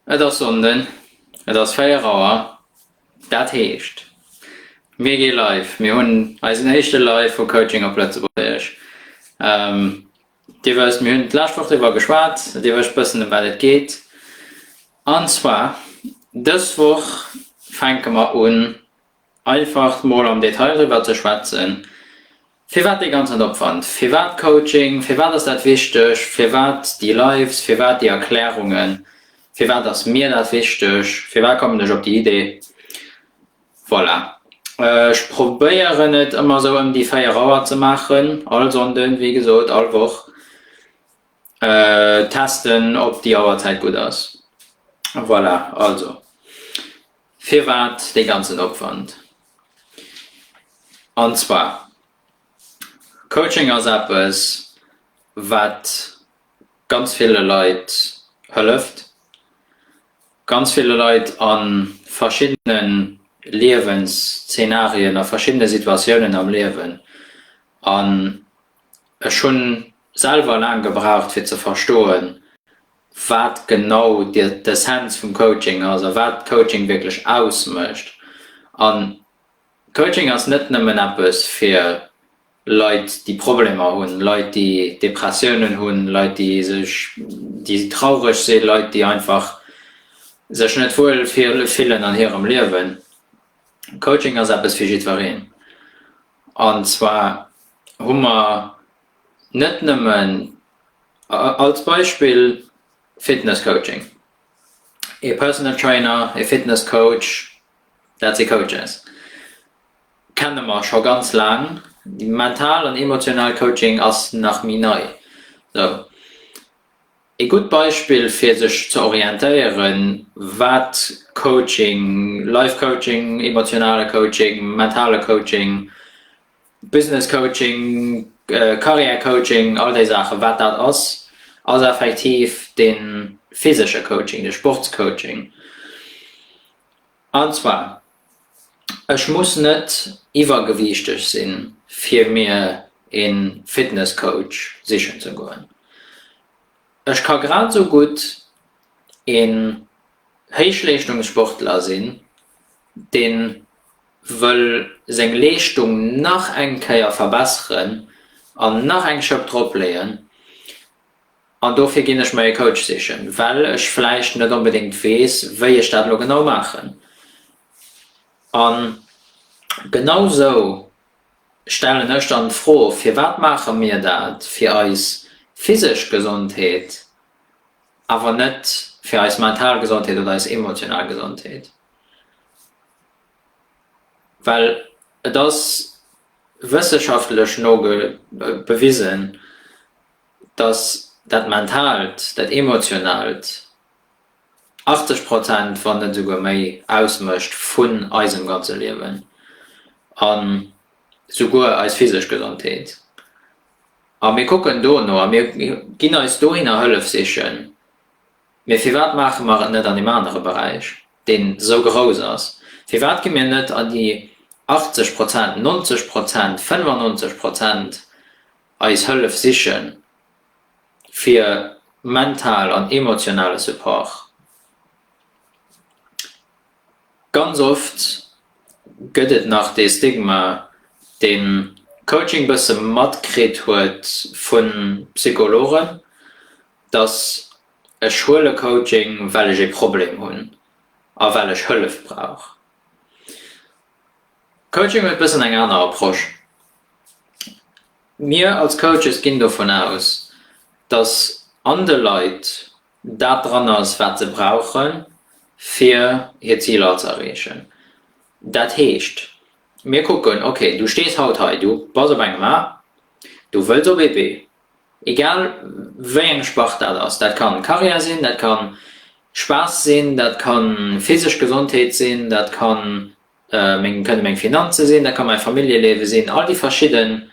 Et ass Sonnden, et ass 4 Auer, dat heescht mir gi live, mir hunn eisen éischte Live vu Coaching op Lëtzebuergesch. Dir wësst, mir hunn d'lescht Woch driwwer geschwat, Dir wësst bëssen ëm wat et geet. An zwar dës Woch fänke mer un Einfach mol am Detail driwwer ze schwätzen, firwat dee ganzen Opwand, firwat Coaching, firwat ass dat wichteg, firwat déi Lives, firwat déi Erklärungen, firwat ass mir dat wichteg, firwat kommen ech op déi Idee. Voilà, ech probéieren et ëmmer sou ëm déi 4 Auer ze maachen, all Sonnden, wéi gesot, all Woch, testen, ob déi Auerzäit gutt ass. Voilà, also. Firwat dee ganzen Opwand? An zwar, Coaching ass eppes, wat ganz ville Leit hëlleft, ganz ville Leit a verschiddene Liewensszenarien, a verschiddene Situatiounen am Liewen. An ech hunn selwer laang gebraucht, fir ze verstoen, wat genau d'Essenz vum Coaching ass a wat Coaching wierklech ausmécht. An Coaching ass net nëmmen eppes fir Leit, déi Problemer hunn, Leit, déi Depressiounen hunn, Leit, déi sech, déi traureg sinn, Leit, déi einfach sech net wuel fillen an hirem Liewen. Coaching ass eppes fir jiddwereen. An zwar hu mer. net nëmmen als Beispill Fitness Coaching, ee Personal Trainer, ee Fitness Coach, dat si Coaches, kenne mer scho ganz laang. Mental an emotional Coaching ass nach méi nei. Esou ee gutt Beispill fir sech ze orientéieren, wat Coaching, Life Coaching, emotionale Coaching, mentale Coaching Business Coaching, Carrière Coaching, all déi Saachen, wat dat ass, ass effektiv de physesche Coaching, de Sportscoaching. An zwar, ech muss net iwwergewiichteg sinn, fir mir e Fitnesscoach sichen ze goen. Ech ka grad esou gutt e Héichleeschtungssportler sinn, dee wëll seng Leeschtung nach eng Kéier verbesseren an nach eng Schëpp drop leeën an dofir ginn ech mer ee Coach sichen, well ech vläicht net onbedéngt weess, wéi ech dat elo genau maachen. An genau sou stellen ech dann d'Fro, Firwat maache mir dat? Fir eis physesch Gesondheet, awer net fir eis mental Gesondheet oder eis emotional Gesondheet. Well et ass wësseschaftlech no bewisen, datt dat Mentaalt, dat Emotionaalt 80 Prozent, wann net esouguer méi, ausmécht vun eisem ganze Liewen a souguer eis physesch Gesondheet. A mir kucken dono a mir ginn eis dohinner Hëllef sichen, Mee firwat maache mer et net an deem anere Beräich, deen esou grouss ass? Firwat gi mir net an déi 80 Prozent, 90 Prozent, 95 Prozent eis Hëllef sichen, fir mental an emotionale Support? Ganz oft gëtt et nach dee Stigma, deen Coaching bësse matkritt huet vu Psychologen, dass ech huele Coaching, well ech ee Problem hunn a well ech Hëllef brauch. Coaching huet bëssen eng aner Approche. Mir als Coaches ginn dovun aus, dass an de Leit dat dran ass, wat se brauche fir hir Ziler ze erreechen. Dat heescht, mir kucken, okay, du stees haut hei, du bass op engem A, du wëlls op ee B, Egal wéi eng Spart dat ass. Dat kann Karriär sinn, dat kann Spaass sinn, dat kann physesch Gesondheet sinn, dat kann meng kënne meng Finanze sinn, dat ka mäi Familljeleewe sinn, all déi verschidden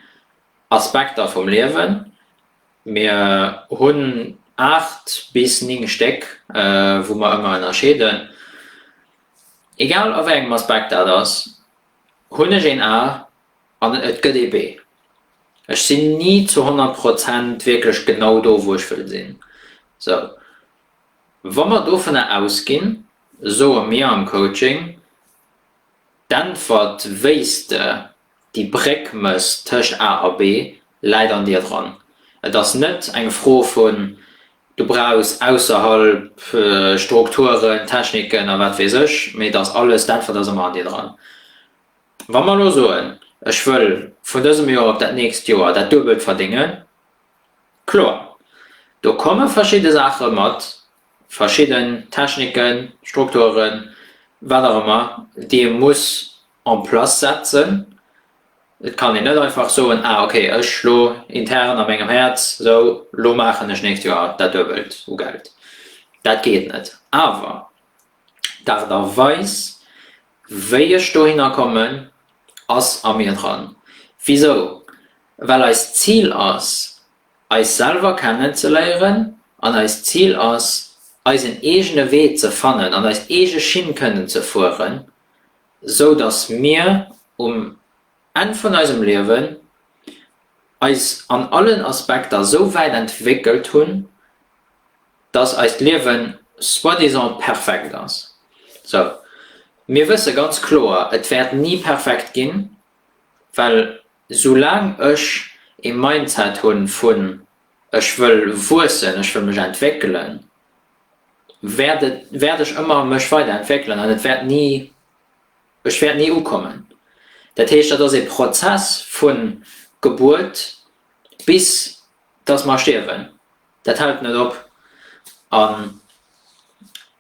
Aspekter vum Liewen. Mir hunn aacht bis néng Stéck, wou mer ëmmer ënnerscheeden. Egal a wéi engem Aspekt dat ass, hunn ech een A An et gëtt ee Wee. Ech sinn ni zu honnert Prozent wierklech genau do, wou ech wëll sinn. Sou, wa mer dovunner ausginn, soe mir am Coaching, d'Äntwert, wéi s de déi Bréck mëss tëscht A a B, läit an dir dran. Et ass net eng Fro vun, du brauchs ausserhalb Strukturen, Techniken a wat weess ech, mee et ass alles, d'Äntwert ass ëmmer an dir dran. Wa mer elo soen, ech wëll vun dësem Joer op dat nächst Joer dat Duebelt verdéngen, kloer, do komme verschidde Saache mat, verschidden Techniken, Strukturen, wat och ëmmer, déi ee muss en place setzen. Et kann een net einfach soen, ah okay, ech elo intern a mengem Häerz, sou, elo maachen ech d'nächst Joer dat Duebelt u Geld. Dat geet net. Awer d'Aart a Weis, Wéi ech dohinner kommen ass a mir dran. Wisou? Well eist Zil ass eis selwer kennen ze léieren an eist Zil ass eisen eegene Wee ze fannen an eis eege Schinn kënnen ze fueren, sou datt mir um Enn vun eisem Liewen eis an allen Aspekter sou wäit entwéckelt hunn, dass eist Liewen soi-disant perfekt ass. So, mir wësse ganz kloer, et wäert ni perfekt ginn, well soulaang ech ee Mindset hu vun ech wëll wuessen, ech wëll mech entwéckelen, wäert et, wäert ech ëmmer mech weider entwéckelen an et wäert ni, ech wäert ni ukommen. Dat heescht, dat ass ee Prozess vu Gebuert bis dass mer stierwen. Dat hält net op. An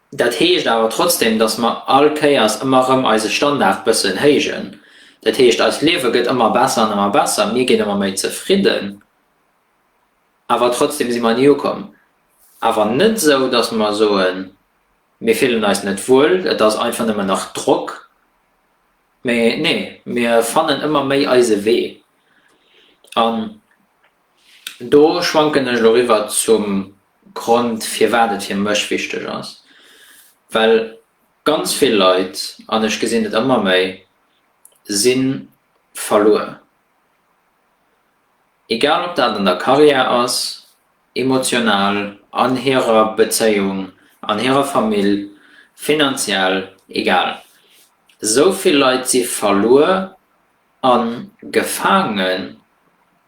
dat heescht awer trotzdem, dass mer all Kéiers ëmmer erëm eise Standard bëssen héijen. Dat heescht, eist Liewe gëtt ëmmer besser an ëmmer besser, mir ginn ëmmer méi zefridden, awer trotzdem si mer ni ukomm. Awer net esou, dass mer soen, mir fillen eis net wuel, et ass einfach nëmmen nach Drock, mee nee, mir fannen ëmmer méi eise Wee. An Do schwanken ech elo riwwer zum Grond, firwat et fir mech wichteg ass. Well ganz vill Leit, an ech gesinn et ëmmer méi, si verluer. Egal ob dat an der Karriär ass, emotional, an hirer Bezéiung, an hirer Famill, finanziell, egal. Esou vill Leit si verluer, A gefaangen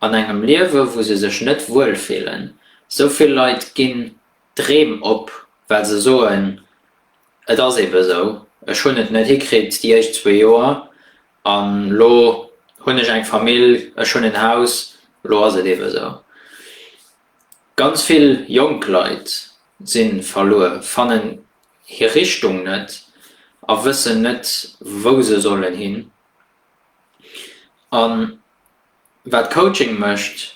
an engem Liewe wou se sech net wuel fillen. Sou vill Leit ginn d'Dreem op, well se soen, et ass ebe sou, ech hunn et net hikritt déi éischt zwee Joer an lo hunn ech eng Famill, ech hunn en Haus, lo ass et ebe sou. Ganz vill jonk Leit si verluer, fannen hir Richtung net a wëssen net wou se sollen hin. An wat Coaching mécht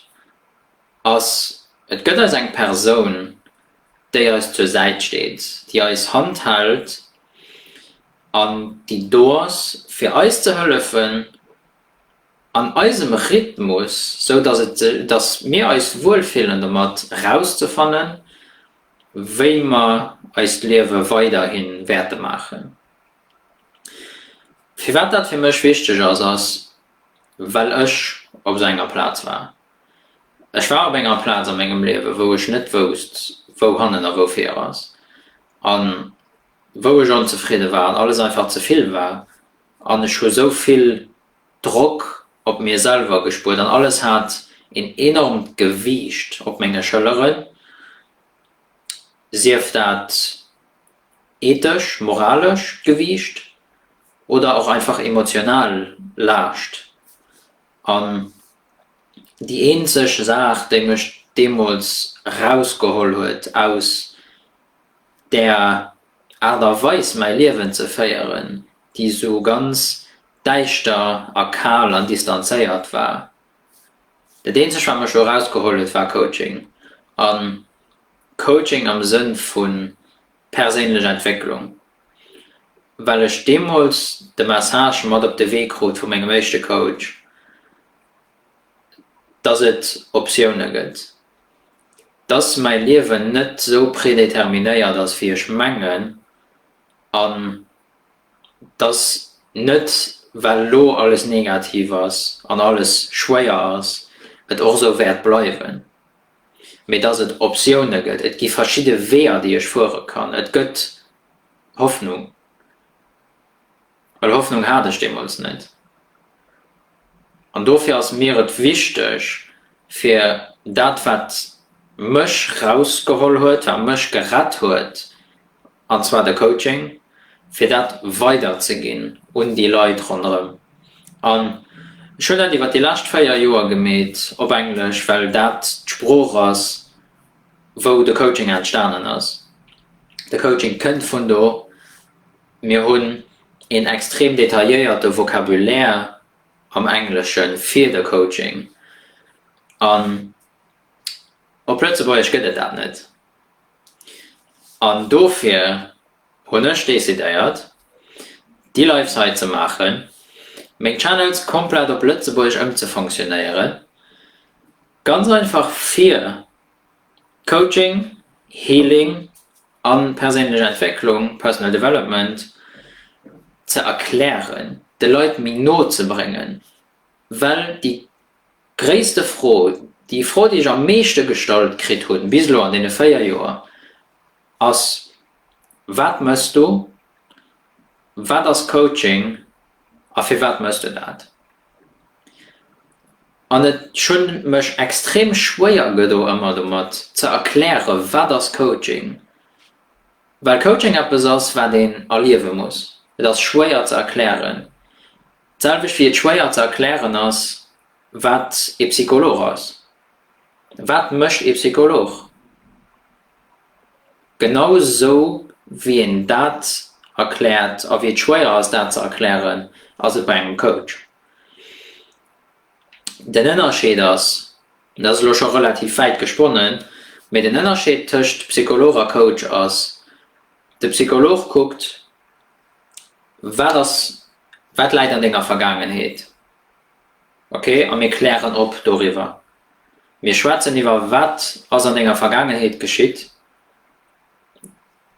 ass, et gëtt eis eng Persoun, déi eis zur Säit steet, déi eis Hand hält an déi do ass fir eis ze hëllefen an eisem Rhythmus, sou dass et dass mir eis wuel fillen domat, rauszefannen, wéi mer eist Liewe weiderhi wäerte maachen. Firwat dat fir mech wichteg ass, ass well ech op esou enger Plaz war. Ech war op enger Plaz a mengem Liewe wou ech net wousst wou hannen a wou vir ass an wou ech onzefridde war an alles einfach ze vill war an ech hu sou vill Drock op mir selwer gespuert an alles hat een enormt Gewiicht op menge Schëlleren, sief dat. ethesch, moralesch Gewiicht oder och einfach emotional Laascht. An déi eenzeg Saach, déi mech deemools rausgeholl huet aus där Aart a Weis mäi Liewen ze féieren, déi esou ganz däischter a kal an distanzéiert war, dat eenzeg wat mech do rausgeholl huet war Coaching. An Coaching am Sënn vu perséinlech Entwécklung, well ech deemools de Message mat op de Wee krut vu mengem éischte Coach, dass et Optioune gëtt, dass mäi Liewen net sou predéterminéiert ass, wéi ech mengen, an dass net well elo alles negativ ass an alles schwéier ass, et och sou wäert bleiwen. mee dass et Optioune gëtt, et gi verschidde Weeër, déi ech fuere kann, et gëtt Hoffnung, well Hoffnung hat ech deemools net. An dofir ass mir et wichteg, fir dat, wat mech rausgeholl huet, wat mech gerett huet, An zwar de Coaching, fir dat weider ze ginn un déi Leit ronderëm. An ech hunn dat iwwer déi lescht 4 Joer gemeet op Englesch, well dat d'Sprooch ass, wou de Coaching entstanen ass. De Coaching kënnt vun do. Mir hunn een extrem detailléierte Vocabulaire am Englesche fir de Coaching. An. Op Lëtzebuergesch gëtt et dat net. An dofir hunn ech decidéiert, déi Lives hei ze maachen, meng Channels komplett op Lëtzebuergesch ëmzefonctionnéieren, ganz einfach fir Coaching, Healing a perséinlech Entwécklung, Personal Development, ze erklären, de Leit méi no ze bréngen, well déi Gréisste Fro, déi Fro, déi ech am meeschte gestallt kritt hunn bis elo an deene 4 Joer, ass, Wat mëss du? Wat ass Coaching a firwat mëss de dat? An ech hunn mech extrem schwéier gedo ëmmer domat ze erkläre wat ass Coaching, well Coaching eppes ass wat een erliewe muss. Et ass schwéier ze erklären. D'selwecht wéi et schwéier ze erklären ass, wat ee Psycholog ass. Wat mécht ee Psycholog? Genau esou wéi een dat erkläert a wéi et schwéier ass, dat ze erklären, ass et bei engem Coach. Den Ënnerscheed ass, dat ass elo scho relativ wäit gesponnen, mee den Ënnerscheed tëscht Psycholog a Coach ass, de Psycholog kuckt, Wat ass, wat läit an denger Vergaangenheet? Ok, a mir klären op doriwwer. Mir schwätzen iwwer, wat ass an denger Vergaangenheet geschitt,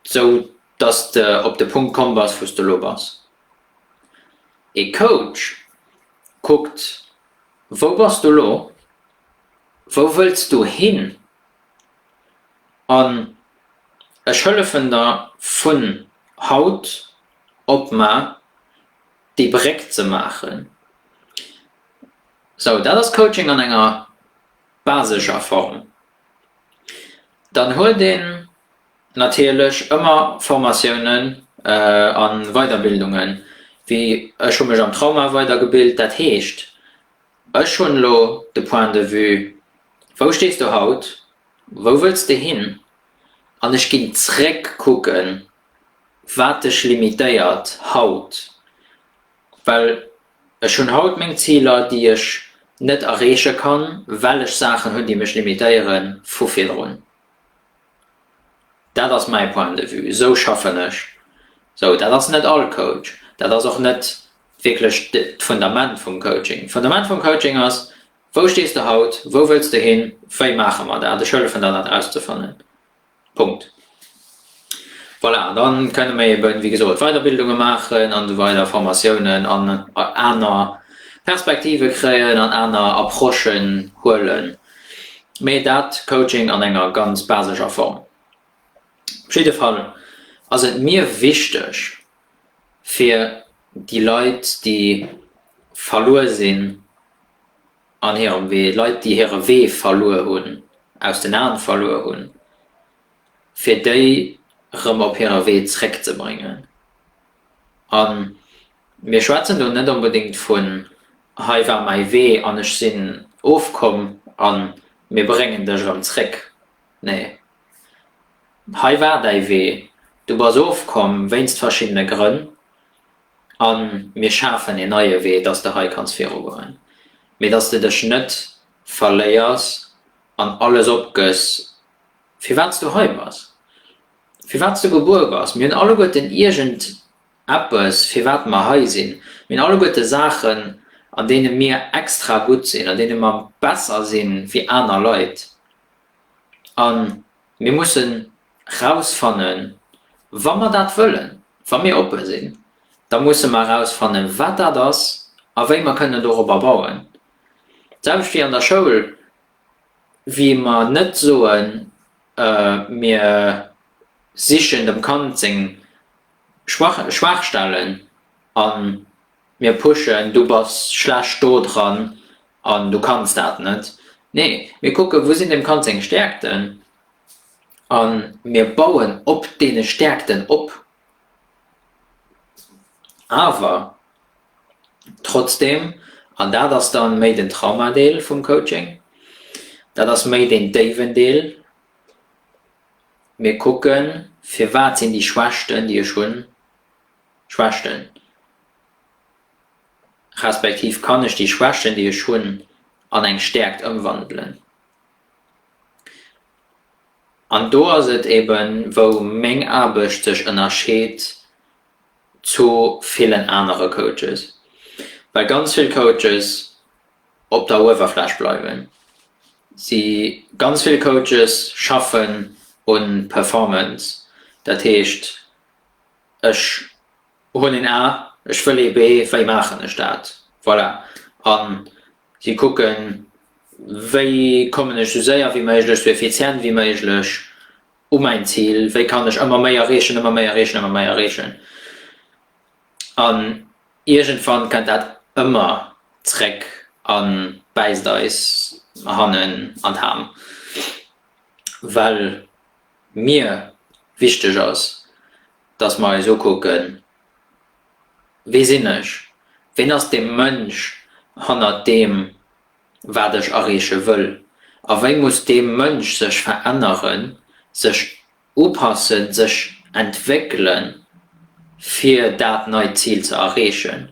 sou dass de op de Punkt komm bass, wou s de elo bass. Ee Coach kuckt, wou bass du elo, wou wëlls du hin, an ech hëllefen der vun haut op mar déi Bréck ze maachen. Sou, dat ass Coaching an enger basescher Form. Dann huet een natierlech ëmmer Formatiounen a Weiderbildungen, wéi ech hu mech am Trauma weidergebilt, dat heescht, Ech hunn elo de Point de vue, wou stees du haut, wou wëlls de hin? An ech ginn zréck kucken, wat dech limitéiert haut. Well ech hunn haut meng Ziler, déi ech net erreeche kann, well ech Saachen hunn, déi mech limitéiere vu virdrun. Dat ass mäi Point de vue. Esou schaffen ech. Esou, dat ass net all Coach. Dat ass och net wierklech d'Fundament vum Coaching. D'Fundament vum Coaching ass, Wou stees de haut? Wou wëlls de hin? Wéi maache mer dat? Ech hëllefen der, dat rauszefannen. Punkt. Voilà, an da kënne mer eeben, wéi gesot, Weiderbildunge maachen an esou weider, Formatiounen an aner Perspektive kréien an aner Approchen huelen, mee dat Coaching an enger ganz basescher Form. Op jidde Fall ass et mir wichteg, fir déi Leit, déi verluer sinn an hirem Wee, Leit, déi hire Wee verluer hunn, aus den Aen verluer hunn, fir déi erëm op hire Wee zréckzebréngen. A mir schwätzen do net onbedéngt vun, Hei war mäi Wee an ech sinn ofkomm a mir bréngen dech erëm zréck. Nee. Hei war däi Wee, du bass ofkomm wéinst verschiddene Grënn a mir schafen een neie Wee, dass de hei kanns virugoen, mee dass de dech net verléiers an alles opgëss, firwat s du hei bass, firwat s du gebuer bass. Mir hunn alleguerten iergend eppes, firwat mer hei sinn. Mir hunn alleguerte Saachen, an deene mir extra gutt sinn, an deene mer besser si wéi aner Leit. A mir mussen rausfannen, wa mer dat wëllen, wa mir oppe sinn, da musse mer rausfannen, wat dat ass a wéi mer kënnen dorobber bauen. D'selwecht wéi an der Schoul, wéi mer net soen, mir sichen dem Kand seng Schwachstellen an Mir pushen, du bass schlecht do dran an du kanns dat net. Nee, mir kucken, wou sinn dem Kand seng Stäerkten a mir bauen op deene Stäerkten op. Awer trotzdem, an dat ass da méi den Traumadeel vum Coaching, dat ass méi deen déiwen Deel, mir kucken, firwat sinn déi Schwächten, déi ech hunn, Schwächten, respektiv kann ech déi Schwächten, déi ech hunn, an eng Stäerkt ëmwandelen? An do ass et eben, wou meng Aarbecht sech ënnerscheet zu villen anere Coaches, well ganz vill Coaches op der Uewerfläch bleiwen. Si, ganz vill Coaches schaffen un Performance, dat heescht, Ech hunn een A, ech wëll ee B, wéi maachen ech dat? Voilà. A si kucken, wéi kommen ech esou séier wéi méiglech, esou effizient wéi méiglech u mäin Zil? Wéi kann ech ëmmer méi erreechen, ëmmer méi erreechen, ëmmer méi erreechen? An iergendwann kënnt dat ëmmer zréck a bäisst eis hannen an d'Ham, well. mir wichteg ass, dass mer eis ukucken, Wie sinn ech? Ween ass dee Mënsch hannert deem, wat ech erreeche wëll? A wéi muss dee Mënsch sech veränneren, sech upassen, sech entwéckelen, fir dat neit Zil ze erreechen?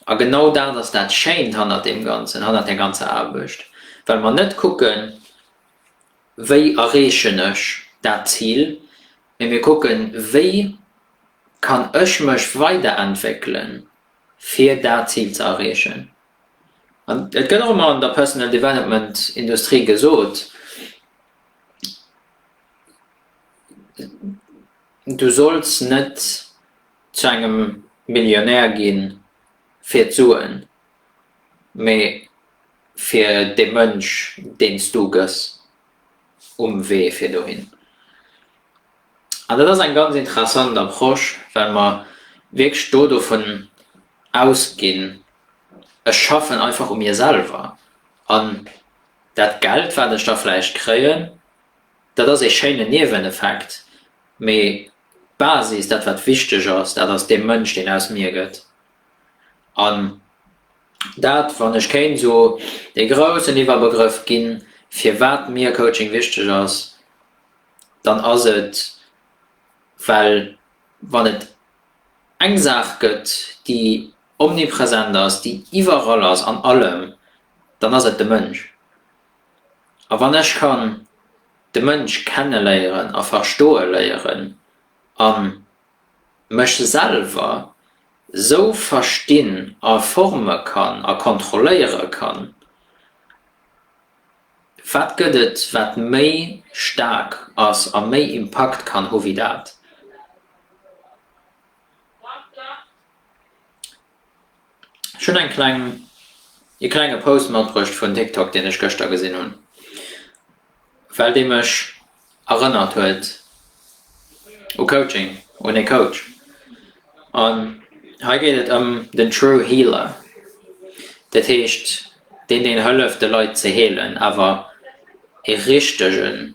A genau dat ass dat Schéint hannert deem Ganzen, hannert där ganzer Aarbecht, well mer net kucken, Wéi erreechen ech dat Zil? Mee mir kucken, wéi kann ech mech weiderentwéckelen, fir dat Zil ze erreechen? An et gëtt och ëmmer an der Personal Development Industrie gesot, Du solls net zu engem Millionär ginn fir d'Suen, mee fir dee Mënsch deen s du gëss um Wee fir dohin. An dat ass eng ganz interessant Approche, well mer wierklech do dovun ausginn, ech schaffen einfach u mir selwer an dat Geld wat ech da vläicht kréien, dat ass ee schéinen Nieweneffekt, mee d'Basis, dat wat wichteg ass, dat ass dee Mënsch deen aus mir gëtt. An dat, wann ech kéint esou ee groussen Iwwerbegrëff ginn, firwat mir Coaching wichteg ass, dann ass et, well wann et eng Saach gëtt, déi omnipresent ass, déi iwwerall ass, an allem, dann ass et de Mënsch. A wann ech kann de Mënsch kenne léieren a verstoe léieren an mech selwer sou verstinn a forme kann a kontrolléiere kann, wat gëtt et wat méi staark ass a méi Impakt kann hu wéi dat? Ech hunn eng kleng, ee klenge Post matbruecht vun TikTok, deen ech gëschter gesinn hunn, well dee mech erënnert huet u Coaching, un ee Coach. An hei geet et ëm den True Healer, dat heescht deen, deen hëlleft de Leit ze heelen, awer ee richtegen.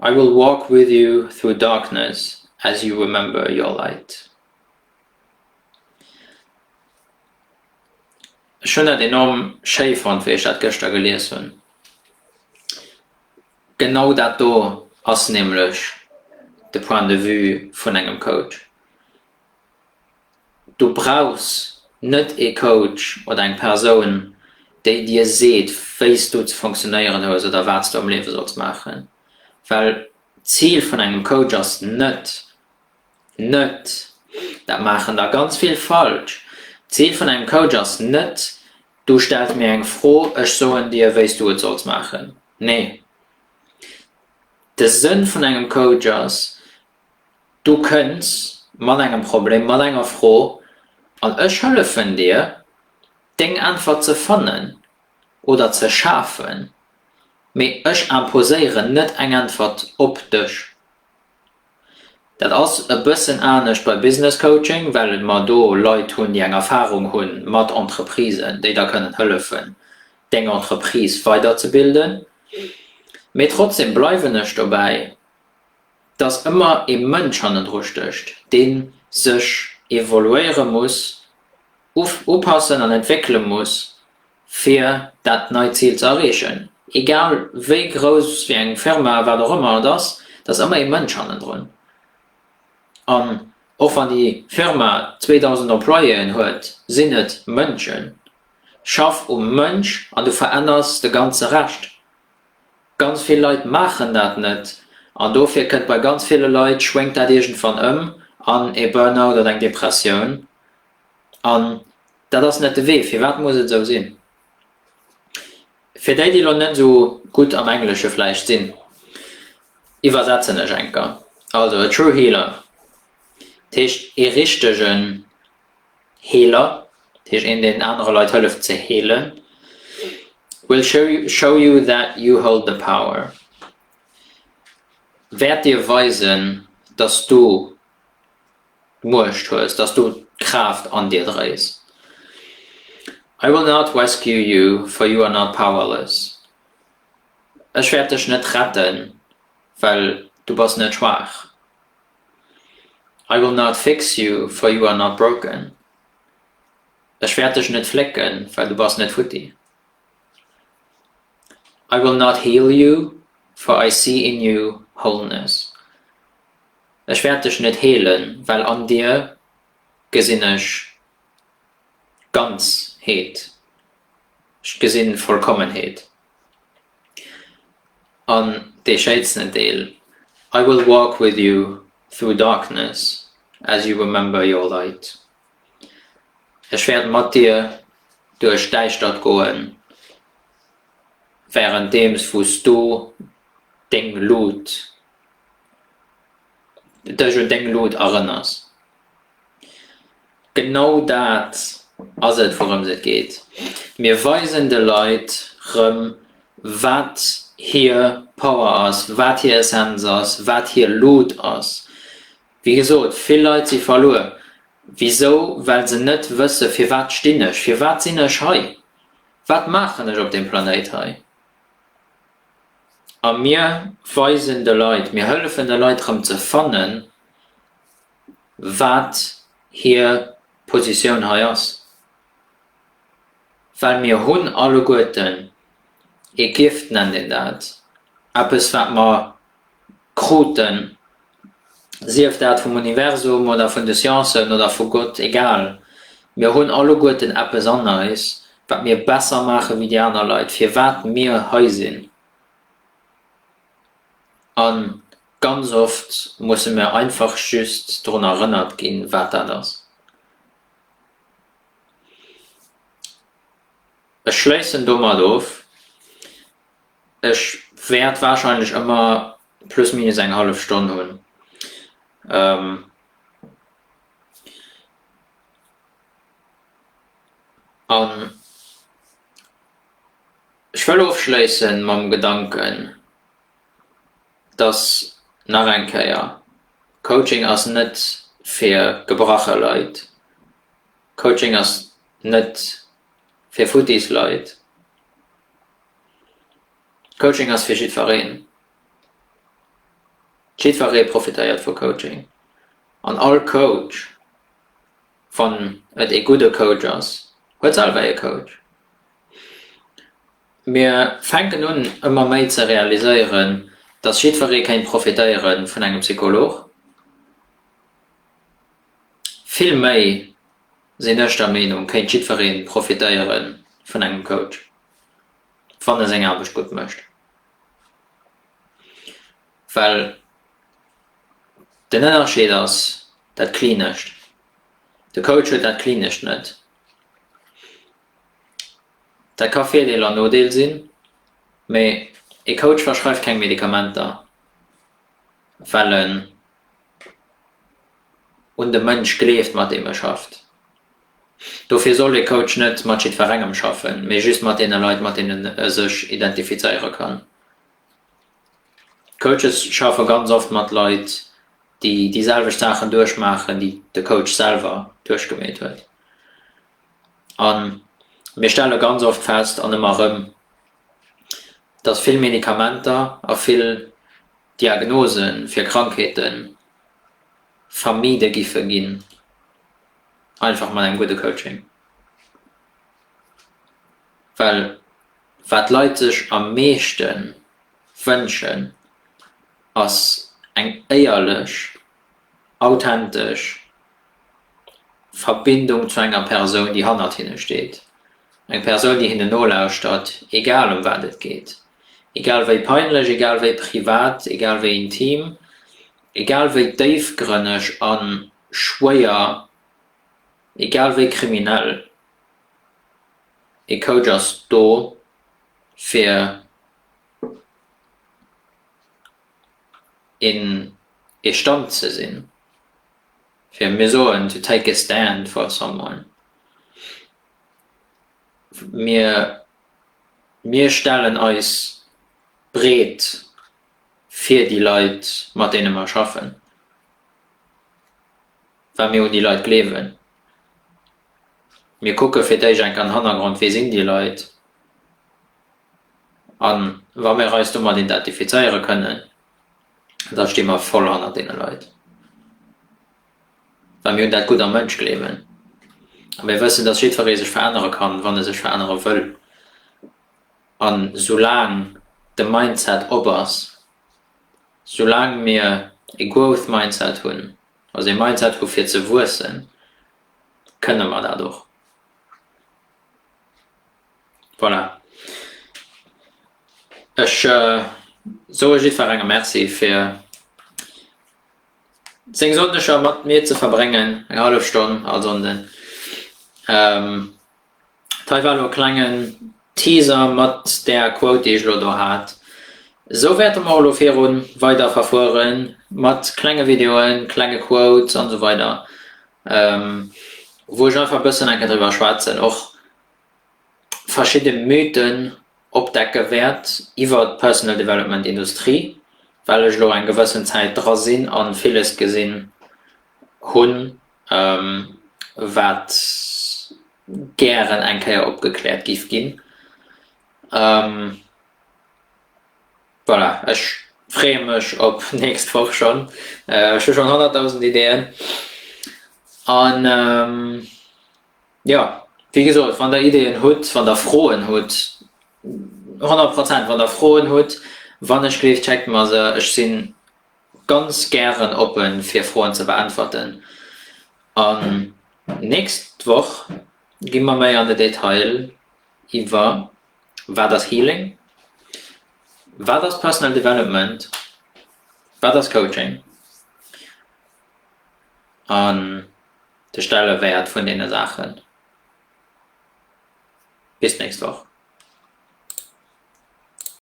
I will walk with you through darkness as you remember your light Ech hunn dat enorm schéi fonnt wéi ech dat gëschter gelies hunn. Genau dat do ass nämlech de Point de vue vun engem Coach. Du brauchs net ee Coach oder eng Persoun, déi dir seet, wéi s du ze funktionéieren hues oder wat s du am Liewe solls maachen. Well d'Zil vun engem Coach ass net, net, dat maachen der ganz vill falsch, d'Zil vun engem Coach ass net, du stells mir eng Fro, ech soen dir, wéi s du et solls maachen. Nee. De Sënn vun engem Coach ass, Du kënns mat engem Problem, mat enger Fro an ech hëllefen dir, deng Äntwert ze fannen oder ze schafen, mee ech imposéieren net eng Äntwert op dech. Dat ass e bëssen anescht bei Business Coaching, well mer do Leit hunn, déi eng Erfarung hu mat Entreprisen, déi der kënnen hëllefen, deng Entreprise weiderzebilden. Mee trotzdem bleiwen ech dobäi. dass ëmmer ee Mënsch hannendru stécht, dee sech evoluéiere muss, upassen an entwéckele muss, fir dat neit Zil ze erreechen, egal wéi grouss, wéi eng Firma, wat och ëmmer et ass, da ass ëmmer ee Mënsch hannendrun. An och wann déi Firma 2.000 Employéen huet, sinn et Mënschen. Schaff um Mënsch an du veränners de ganze Rescht. Ganz vill Leit maachen dat net an dofir kënnt bei ganz ville Leit schwéngt dat iergendwann ëm an ee Burnout oder eng Depressioun an dat ass net de Wee. Firwat muss et esou sinn? Fir déi, déi elo net esou gutt am Englesche vläicht sinn, iwwersetzen ech enker. Also e true healer, dat heescht ee richtegen Healer, dat heescht een deen anere Leit hëlleft ze heelen, will show you that you hold the power, wäert dir weisen, dass du d'Muecht hues, dass du d'Kraaft an dir dréis. I will not rescue you, for you are not powerless, ech wäert dech net retten, well du bass net schwaach. I will not fix you, for you are not broken, Ech wäert dech net flécken, well du bass net futti. I will not heal you, for I see in you wholeness, Ech wäert dech net heelen, well an dir gesinn ech Ganzheet, ech gesinn Vollkommenheet. An dee schéinsten Deel, I will walk with you through darkness as you remember your light, Ech wäert mat dir duerch d'Däischtert goen, wärenddeems wou s du deng Lut dech un deng Lod erënners. Genau dat ass et, wourëms et geet. Mir weisen de Leit rëm, wat hir Power ass, wat hir Essenz ass, wat hir Lod ass. Wéi gesot, vill Leit si verluer. Wisou? Well se net wësse, Firwat stinn ech? Firwat sinn ech hei? Wat maachen ech op deem Planéit hei? a mir weisen de Leit, mir hëllefen de Leit rëm ze fannen, wat hir Positioun hei ass, well mir hunn alleguerten, ee Gift nennt een dat, eppes wat mer kruten, sief dat vum Universum oder vun de Sciencen oder vu Gott, egal, mir hunn alleguerten eppes an eis, wat mir besser maache wéi déi aner Leit, firwat mir hei sinn. A ganz oft musse mir einfach just drun erënnert ginn, wat dat ass. Ech schléissen domat of. Ech wäert wahrscheinlech ëmmer plus minus eng hallef Stonn hunn. An ech wëll ofschléisse mam Gedanken, dass, nach eng Kéier, Coaching ass net fir gebrache Leit, Coaching ass net fir futtis Leit. Coaching ass fir jiddfereen. Jiddferee profitéiert vu Coaching an all Coach, wann et ee gudde Coach ass, huet selwer ee Coach. Mir fänken un ëmmer méi ze realiséieren, dass jiddferee kéint profitéiere vun engem Psycholog. Villméi sinn ech der Meenung, kéint jiddweree profitéiere vun engem Coach, wann e seng Aarbecht gutt mécht. Well den Ënnerscheed ass dat Klinescht. De Coach huet dat Klinescht net. Dat ka Virdeel an Nodeel sinn, mee e Coach verschreift keng Medikamenter, well en. un de Mënsch gleeft, mat deem e schafft. Dofir soll e Coach net mat jiddwerengem schaffen, mee just mat deene Leit, mat deenen e sech identifizéiere kann. D'Coaches schaffe ganz oft mat Leit, déi déi selwecht Saachen duerchmaachen, déi de Coach selwer duerchgemeet huet. A mir stelle ganz oft fest, an ëmmer erëm, dass vill Medikamenter a vill Diagnose fir Krankheete vermide giffe ginn, einfach mat engem gudde Coaching. Well wat d'Leit sech am meeschte wënschen, ass eng éierlech, authentesch Verbindung zu enger Persoun, déi hannert hinne steet, eng Persoun, déi hinne nolauschtert, egal ëm wat et geet. Egal wéi peinlech, egal wéi privat, egal wéi intim, egal wéi déifgrënneg a schwéier, egal wéi kriminell, e Coach ass do fir een ee Stand ze sinn, fir, mir soen, to take a stand for someone. Mir, mir stellen eis breet fir déi Leit, mat deene mer schaffen, well mir un déi Leit gleewen. Mir kucke fir d'éischt enk an den Hannergrond, Wie sinn déi Leit? A wa mir eis domat identifizéiere kënnen, da sti mer voll hannert deene Leit. Well mir hunn dat Gutt am Mënsch gleewen. A mir wëssen, dass jiddweree sech verännere kann, wann e sech verännere wëll. An soulaang de Mindset op ass, soulaang mir e Growth Mindset hunn, also e Mindset hu fir ze wuessen, kënne mer dat och. Voilà. Ech soe jiddwerengem Merci fir. seng Sonndeger mat mir ze verbréngen, eng hallef Stonn all Sonnden. Dat hei war elo e klengen Teaser mat där Quote, déi ech elo do hat. Esou wäerte mer och elo viru weider verfuere mat klenge Videoen, klenge Quotes an esou weider, wou ech einfach e bëssen enke driwwer schwätzen och. verschidde Mythen opdecke wäert iwwert d'Personal Development Industrie, well ech elo eng gewëssen Zäit dra sinn a villes gesinn hunn, wat gären eng Kéier opgekläert géif ginn. Voilà, ech freeë mech op d'nächst Woch schonn. Ech hu schonn honnertdausend Ideeën an. Jo, wéi gesot, wann Der Ideeën hutt, wann Der Froen hutt, honnert Prozent, wann Der Froen hutt, wann ech gleeft, schéckt mer se. Ech si ganz gären oppe fir Froen ze beäntwerten. An nächst Woch gi mer méi an de Detail iwwer, Wat ass Healing? Wat ass Personal Development? Wat ass Coaching? A. de Stellewäert vun deene Saachen. Bis d'nächst Woch.